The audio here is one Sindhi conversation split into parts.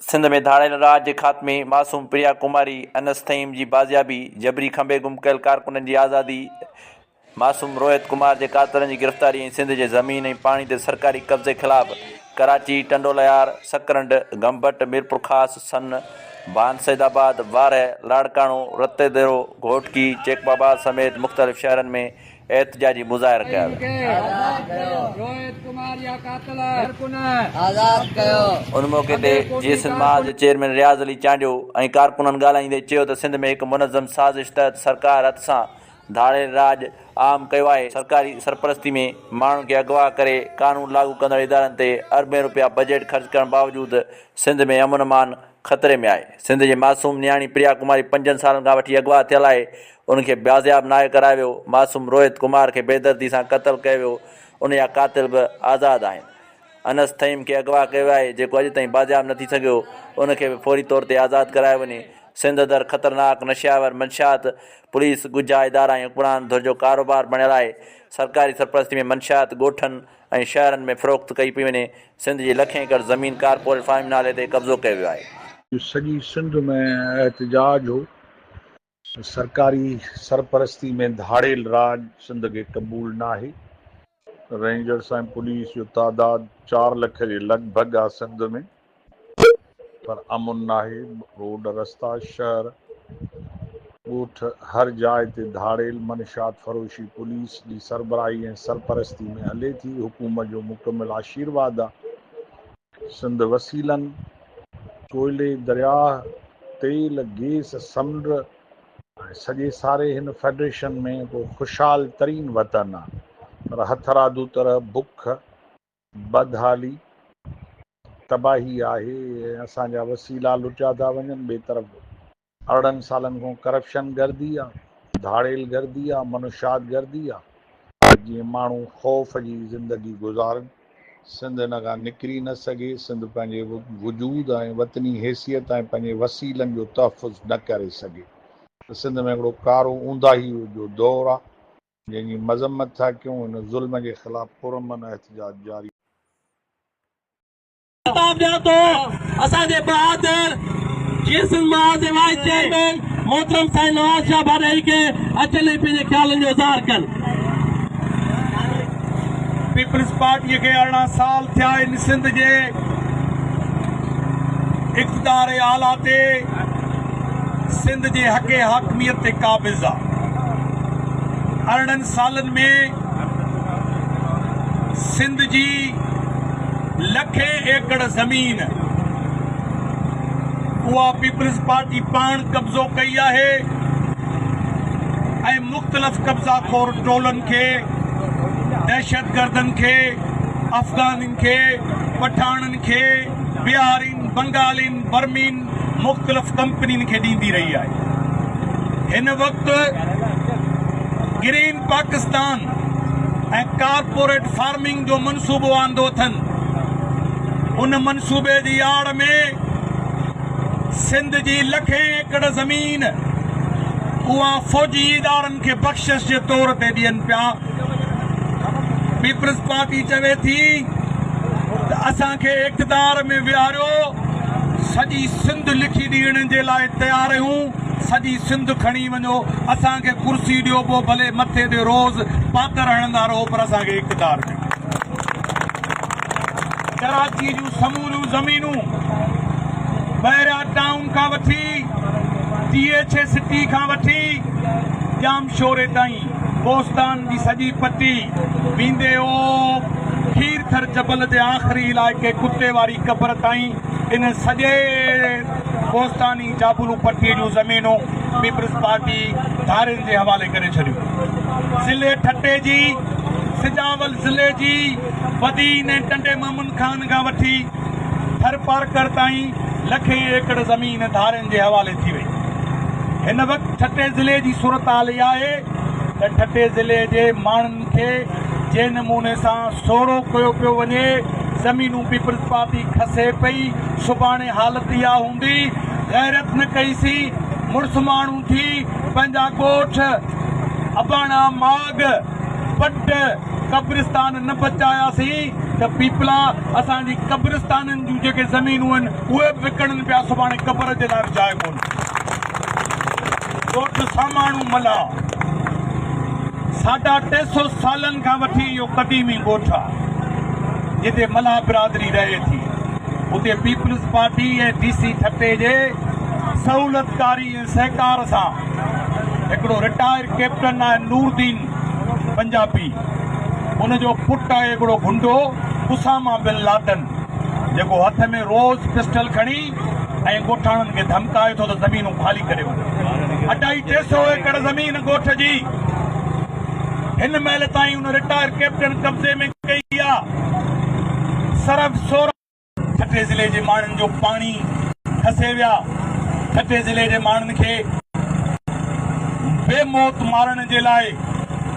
سنڌ ۾ ڌاڙيل راڄ جي خاتمي، معصوم پريا ڪماري، انس ٿهيم جي بازيابي، جبري کنڀي گم ڪيل ڪارڪنن جي آزادي، معصوم روهت ڪمار جي قاتلن جي گرفتاري ۽ سنڌ جي زمين ۽ پاڻي تي سرڪاري قبضي خلاف ڪراچي، ٽنڊوليار، سڪرنڊ، گمبٽ، ميرپورخاص، سن، ڀان سيد آباد، وارهه، لاڙڪاڻو، رتيديرو، گهوٽڪي، چيڪ بابا سميت مختلف شهرن ۾ احتجاجي مظاهر ڪيا ويا. ان موقعي تي جيئي سنڌ محاذ جي چيئرمين رياض علي چانڊيو ۽ ڪارڪنن ڳالهائيندي چيو ته سنڌ ۾ هڪ منظم سازش تحت سرڪار هٿ سان ڌاڙيل راڄ عام ڪيو آهي، سرڪاري سرپرستي ۾ ماڻهن کي اغوا ڪري قانون لاڳو ڪندڙ ادارن تي اربين روپيا بجيٽ خرچ ڪرڻ باوجود سنڌ ۾ امن امان خطري ۾ آهي، سنڌ جي معصوم نياڻي پريا ڪماري پنجن سالن کان وٺي اغوا ٿيل آهي، ان کي بازياب ناهي ڪرايو ويو، معصوم روهت ڪمار کي بيدردي سان قتل ڪيو ويو، ان جا قاتل به آزاد آهن، انس ٿهيم کي اغوا ڪيو ويو آهي جيڪو اڄ تائين بازياب نه ٿي سگهيو، ان کي به فوري طور تي آزاد ڪرايو وڃي، سنڌ اندر خطرناڪ نشياور منشيات پوليس ڳجها ادارا ۽ حڪمران ڌر جو ڪاروبار بڻيل آهي، سرڪاري سرپرستي ۾ منشيات ڳوٺن، ۽ شهرن ۾ فروخت ڪئي پئي وڃي، سنڌ جي لکين ايڪڙ زمين ڪارپوريٽ فارم نالي تي قبضو ڪيو ويو آهي. سڄي سنڌ ۾ احتجاج هو ته سرڪاري سرپرستي ۾ ڌاڙيل راڄ سنڌ کي قبول ناهي، رينجرس ۽ پوليس جو تعداد چار لک جي لڳ ڀڳ آهي سنڌ ۾، پر امن ناهي، روڊ، رستا، شهر، ڳوٺ هر جاء تي ڌاڙيل منشيات فروشي پوليس جي سربراهي ۽ سرپرستي ۾ هلي ٿي، حڪومت جو مڪمل آشيرواد آ، سنڌ وسيلن، ڪوئلي، درياهه، تيل، گيس، سمنڊ ۽ سڄي ساري هن فيڊريشن ۾ ڪو خوشحال ترين وطن آ، پر هٿرادو طرح بک، بدحالي، تباهي آهي ۽ اسان جا وسيلا لٽيا ٿا وڃن، ٻئي طرف ارڙهن سالن کان ڪرپشن گردي آ، ڌاڙيل گردي آ، منشيات گردي آ ته جيئن ماڻهو خوف جي زندگي گذارن، سنڌ ان کان نڪري نه سگهي، سنڌ پنهنجي وجود ۽ وطني حيثيت ۽ پنهنجي وسيلن جو تحفظ نه ڪري سگهي ته سنڌ ۾ هڪڙو ڪارو اونداهي جو دور آ، جنهن جي مذمت ٿا ڪيون، ان ظلم جي خلاف پرامن احتجاج جاري. خطاب ڏيان ٿو اسان جي بهادر جيئي سنڌ مهاز جي وائيس چيئرمين محترم سائين نواز شاهه ڀاڏائي کي اچن ۽ پنهنجي خيالن جو اظهار ڪن. پيپلز پارٽيء کي ارڙهن سال ٿيا آهن سنڌ جي اقتدار اعليٰ تي. سنڌ جي حق حاڪميت تي قابض آ. ارڙهن سالن ۾ سنڌ جي لکين ايڪڙ زمين اها پيپلز پارٽي پاڻ قبضو ڪئي آهي ۽ مختلف قبضا خور ٽولن کي، دهشتگردن کي، افغانين کي، پٺاڻن کي، بهارين، بنگالين، برمين مختلف ڪمپنين کي ڏيندي رهي آهي. هن وقت گرين پاڪستان ۽ ڪارپوريٽ فارمنگ جو منصوبو آندو اٿن. ان منصوبي جي آڙ ۾ سنڌ جي لکين ايڪڙ زمين اها فوجي ادارن کي بخشش جي طور تي ڏين پيا. پيپلز پارٽي چوي ٿي ته اسان کي اقتدار ۾ ويهاريو سڄي سنڌ لکي ڏيڻ جي لاء تيار آهيون سڄي سنڌ کڻي وڃو اسان کي ڪرسي ڏيو پوء ڀلي مٿي تي روز پاتر هڻندا رهو پر اسان کي اقتدار ڏيو ڪراچي جون سموريون زمينون بحريا ٽائون کان وٺي ٽي ايڇ اي سٽي کان وٺي ڄام شوري تائين ڪوستان جي سڄي پٽي ويندي او کير ٿر جبل جي آخري علائقي ڪتي واري قبر تائين ان سڄي ڪوستاني جابلو پٽي جون زمينون پيپلز پارٽي ڌارين جي حوالي ڪري ڇڏيون ضلعي ٺٽي جي سجاول ضلعي جي بدين ۽ ٽنڊي محمد خان کان وٺي ٿرپارڪر تائين لکين ايڪڙ زمين ڌارين جي حوالي ٿي وئي. هن وقت ٺٽي ضلعي جي صورتحال اها آهي ته ٺٽي ضلعي جي ماڻهن کي جنهن نموني سان سوڙهو ڪيو پيو وڃي، زمينون پيپلز پارٽي کسي پئي، سڀاڻي حالت اها هوندي، غيرت نه ڪئي سين، مڙس ماڻهو ٿي، پنهنجا ڳوٺ، اباڻا ماڳ. پٽ قبرستان نه بچاياسين ته پيپلا اسان جي قبرستانن جون جيڪي زمينون آهن اهي به وڪڻن پيا سڀاڻي قبر جي لاء به جاء ڪونه ٿيندي ڳوٺ ساماڻو ملاح ساڍا ٽي سو سالن کان وٺي اهو قديمي ڳوٺ آهي جتي ملاح برادري رهي ٿي اتي Peoples Party ۽ D C Thatta جي سهولتڪاري سهڪار سان هڪڙو رٽائر ڪئپٽن آهي نوردين پنجابي ان جو پٽ آهي هڪڙو گنڊو اسامه بن لادن جيڪو هٿ ۾ روز پسٽل کڻي ۽ ڳوٺاڻن کي ڌمڪائي ٿو ته زمينون خالي ڪري وڃو اڍائي ٽي سئو ايڪڙ زمين ڳوٺ جي هن مهل تائين ان رٽائر ڪئپٽن قبضي ۾ ڪئي آهي صرف سورهن ٺٽي ضلعي جي ماڻهن جو پاڻي کسي ويا، ٺٽي ضلعي جي ماڻهن کي بي موت مارڻ جي لاء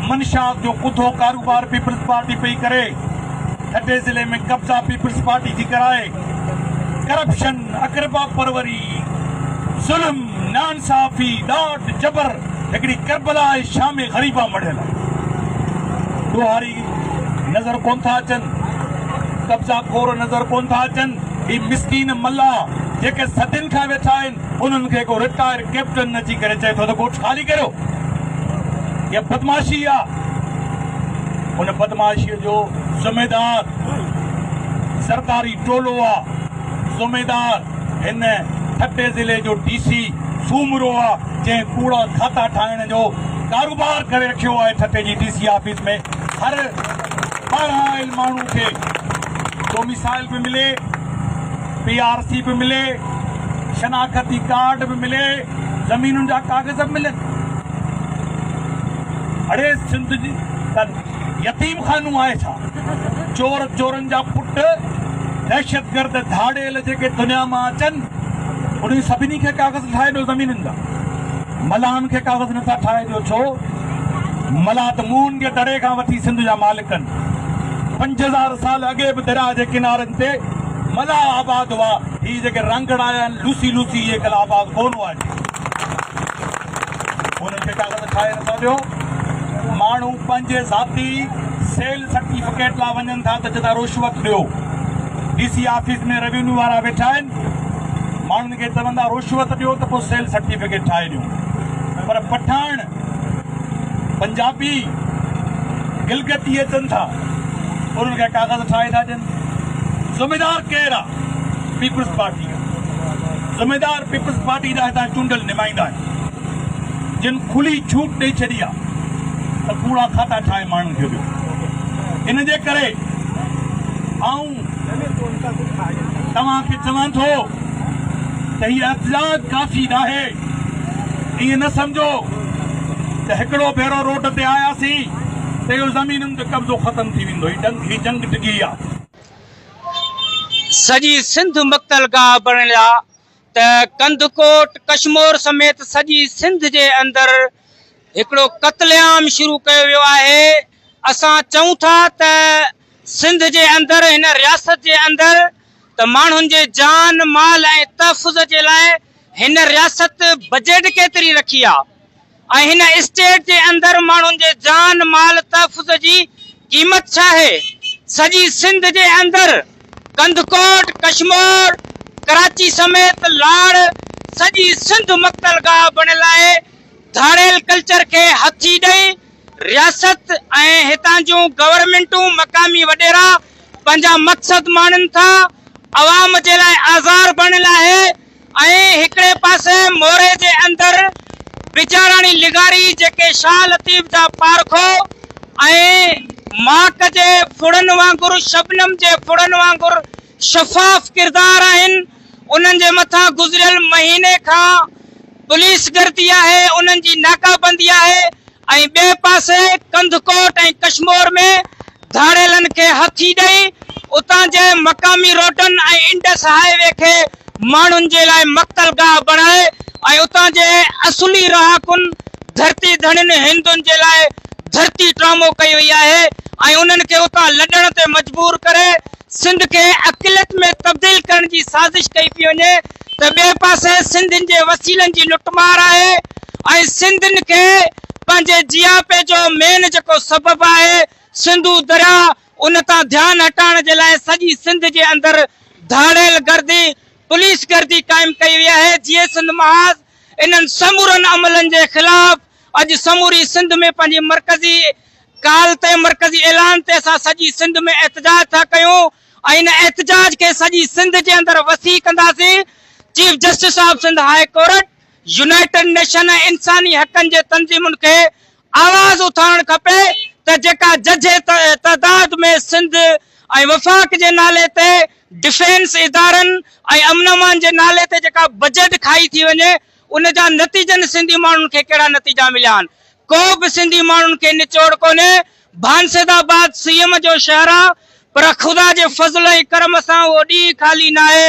منشيات جو ڪڌو ڪاروبار پيپلز پارٽي پئي ڪري، ٺٽي ضلعي ۾ قبضا پيپلز پارٽي ٿي ڪرائي، ڪرپشن، اقربا پروري، ظلم، ناانصافي، ڏاڍ، جبر، هڪڙي ڪربلا آهي شام غريبا مڙهيل آهي، ڏوهاري. نظر ڪونه ٿا اچن، قبضا خور نظر ڪونه ٿا اچن، هي مسڪين ملاح جيڪي صدين کان ويٺا آهن، انهن کي ڪو رٽائر ڪئپٽن اچي ڪري چئي ٿو ته ڳوٺ خالي ڪريو، اها بدمعاشي آهي، ان بدمعاشيء جو ذميدار زرداري ٽولو آهي، ذميدار هن ٺٽي ضلعي جو ڊي سي سومرو آ جنهن ڪوڙا کاتا ٺاهڻ جو ڪاروبار ڪري رکيو آهي ٺٽي جي ڊي سي آفيس ۾ هر پڙهايل ماڻهو کي ڊوميسائل به ملي پي آر سي به ملي شناختي ڪارڊ به ملي زمينن جا ڪاغذ به ملن اڙي سنڌ جي يتيم خانو آهي ڇا؟ چور چورن جا پٽ دهشتگرد ڌاڙيل جيڪي دنيا مان اچن انهن سڀني کي ڪاغذ ٺاهي ڏيو زمينن جا ملاحن کي ڪاغذ نه ٿا ٺاهي ڏيو ڇو ملاح ته مون جي دڙي کان وٺي سنڌ جا مالڪن پنج هزار سال اڳي به درياء جي ڪنارن تي ملاح آباد هئا هي جيڪي رانگڙا آيا آهن لوسي لوسي اهي ڪل آباد ڪون هئا جي انهن کي ڪاغذ ٺاهي نه ٿا ڏيو ماڻهو پنهنجي ذاتي سيل سرٽيفڪيٽ لا وڃن ٿا ته چئندا روشوت ڏيو ڊي سي آفيس ۾ روينيو وارا ويٺا آهن ماڻهن کي چوندا روشوت ڏيو ته پوء سيل سرٽيفڪيٽ ٺاهي ڏيو پر پٺاڻ پنجابي گلگتي اچن ٿا انهن کي ڪاغذ ٺاهي ٿا ڏين ذميدار ڪير آهي پيپلز پارٽي ذميدار پيپلز پارٽي جا هتان چونڊل نمائندا آهن جن کلي ڇوٽ ڏئي ڇڏي آ ته ڪوڙا کاتا ٺاهي ماڻهن کي ڏيو ان جي ڪري آئون توهان کي چوان ٿو ته هي احتجاج ڪافي ناهي ائين نه سمجهو ته هڪڙو ڀيرو روڊ تي آياسين ته اهو زمينن تي قبضو ختم ٿي ويندو هي جنگ هي جنگ ڊگهي آ. سڄي سنڌ مقتل گاهه بڻڻ جا ته ڪنڌڪوٽ ڪشمور سميت سڄي سنڌ جي اندر هڪڙو قتل عام شروع ڪيو ويو آهي اسان چئون ٿا ته سنڌ جي اندر هن رياست جي اندر ته ماڻهن جي جان مال ۽ تحفظ جي لاء هن رياست بجيٽ ڪيتري رکي آ ۽ هن اسٽيٽ جي اندر ماڻهن جي جان مال تحفظ جي قيمت ڇا آهي؟ سڄي سنڌ جي اندر ڪنڌڪوٽ، ڪشمور، ڪراچي سميت لاڙ سڄي سنڌ مقتل گاهه بڻيل آهي، ڌاڙيل ڪلچر کي هٿي ڏئي رياست ۽ هتان جون گورنمينٽون مقامي وڏيرا پنهنجا مقصد ماڻين ٿا عوام جي لاء آزار بڻيل آهي. ۽ هڪڙي پاسي موري جي اندر بجاراڻي لغاري جيڪي شاهه لطيف جا پارکو ۽ ماڪ جي ڦڙن وانگر شبنم جي ڦڙن وانگر شفاف ڪردار آهن انهن جي مٿان گذريل مهيني کان پوليس گردي آهي انهن جي ناڪابندي آهي ۽ ٻئي پاسي ڪنڌڪوٽ ۽ ڪشمور ۾ ڌاڙيلن کي هٿي ڏئي اتان جي مقامي روڊن ۽ انڊس هاء وي کي ماڻهن جي لاء مقتل گاهه بڻائي ۽ اتان جي اصلي رهاڪن ڌرتي ڌڻين هندن جي لاء ڌرتي ٽرامو ڪئي وئي آهي ۽ انهن کي اتان لڏڻ تي مجبور ڪري سنڌ کي اقليت ۾ تبديل ڪرڻ جي سازش ڪئي پئي وڃي ته ٻئي پاسي سنڌين جي وسيلن جي لٽ مار آهي ۽ سنڌين کي پنهنجي جياپي جو مين جيڪو سبب آهي سنڌو درياء ان تان ڌيان هٽائڻ جي لاء سڄي سنڌ جي اندر ڌاڙيل گردي پوليس گردي قائم ڪئي وئي آهي جيئي سنڌ محاذ انهن سمورن عملن جي خلاف اڄ سموري سنڌ ۾ پنهنجي مرڪزي ڪال تي مرڪزي اعلان تي اسان سڄي سنڌ ۾ احتجاج ٿا ڪيون. ان احتجاج کي سڄي سنڌ جي اندر وسيع ڪنداسين، chief justice of Sindh high court, united nation ۽ انساني حقن جي تنظيمن کي آواز اٿارڻ کپي ته جيڪا ججهي تعداد ۾ سنڌ ۽ وفاق جي نالي تي ڊفينس ادارن ۽ امن امان جي نالي تي جيڪا بجيٽ کائي ٿي وڃي ان جا نتيجن سنڌي ماڻهن کي ڪهڙا نتيجا مليا آهن ڪو به سنڌي ماڻهن کي نچوڙ ڪونهي بانسد آباد سي ايم جو شهر آ پر خدا جي فضل ۽ ڪرم سان اهو ڏينهن خالي ناهي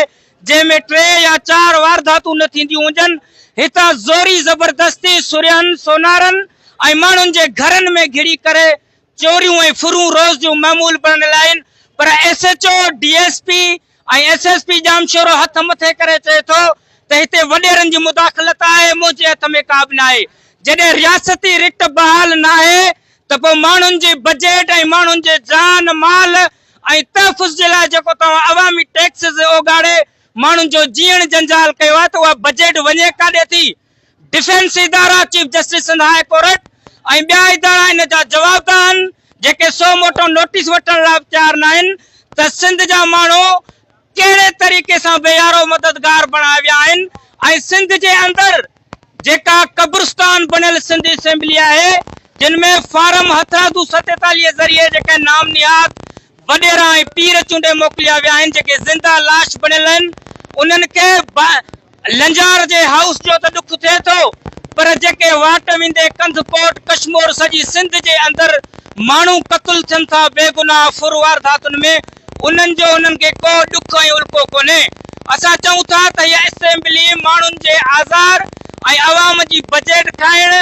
جنهن ۾ ٽي يا چار وارداتون نه ٿينديون هجن. هتان زوري زبردستي سرهن سونارن ۽ ماڻهن جي گهرن ۾ گهڙي ڪري چوريون ۽ ڦرون روز جون معمول بڻن لائين پر S H O, D S P, ۽ S S P Jamshoro هٿ مٿي ڪري چئي ٿو ته هتي وڏيرن جي مداخلت آهي منهنجي هٿ ۾ ڪابه ناهي جڏهن رياستي رٽ بحال ناهي ته پوء ماڻهن جي بجيٽ ۽ ماڻهن جي جان مال ۽ تحفظ جي لاء جيڪو توهان عوامي ٽيڪسز اوڳاڙي ماڻهن جو جيئڻ جنجال ڪيو آهي ته اها بجيٽ وڃي ڪاڏي ٿي ڊفينس ادارا، chief justice Sindh high court ۽ ٻيا ادارا ان جا جوابده آهن، جيڪي سو موٽو نوٽيس وٺڻ لاء به تيار ناهن ته سنڌ جا ماڻهو ڪهڙي طريقي سان بي يارو مددگار بڻايا ويا آهن ۽ سنڌ جي اندر جيڪا قبرستان بڻيل سنڌ اسيمبلي آهي، جن ۾ فارم هٿرادو ستيتاليهه ذريعي جيڪي نام نهاد وڏيرا ۽ پير چونڊي موڪليا ويا آهن، جيڪي زنده لاش بڻيل آهن، انهن کي لنجار جي هائوس جو ته ڏک ٿئي ٿو پر جيڪي واٽ ويندي ڪنڌ ڪوٽ ڪشمور سڄي سنڌ جي اندر ماڻهو قتل ٿين ٿا بيگناهه ڦر وارداتن ۾ انهن جو انهن کي ڪو ڏک ۽ الڪو ڪونهي اسان چئون ٿا ته هيء اسيمبلي ماڻهن جي آزار ۽ عوام جي بجيٽ کائڻ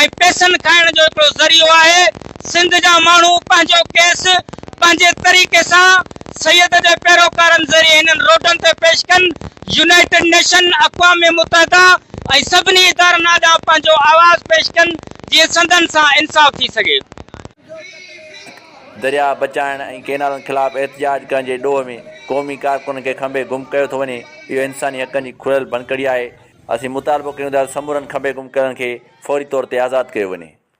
۽ پيسن کائڻ جو هڪڙو ذريعو آهي سنڌ جا ماڻهو پنهنجو ڪيس پنهنجي طريقي سان سيد جي پيروڪارن ذريعي هنن روڊن تي پيش ڪن يونائيٽيڊ نيشن، اقوام متحده ۽ سڀني ادارن آڏان پنهنجو آواز پيش ڪن جيئن سندن سان انصاف ٿي سگهي. درياء بچائڻ ۽ ڪينالن خلاف احتجاج ڪرڻ جي ڏوهه ۾ قومي ڪارڪنن کي کنڀي گم ڪيو ٿو وڃي، اهو انساني حقن جي کليل ڀڃڪڙي آهي، اسين مطالبو ڪيون ٿا ته سمورن کنڀي گم ڪيلن کي فوري طور تي آزاد ڪيو وڃي.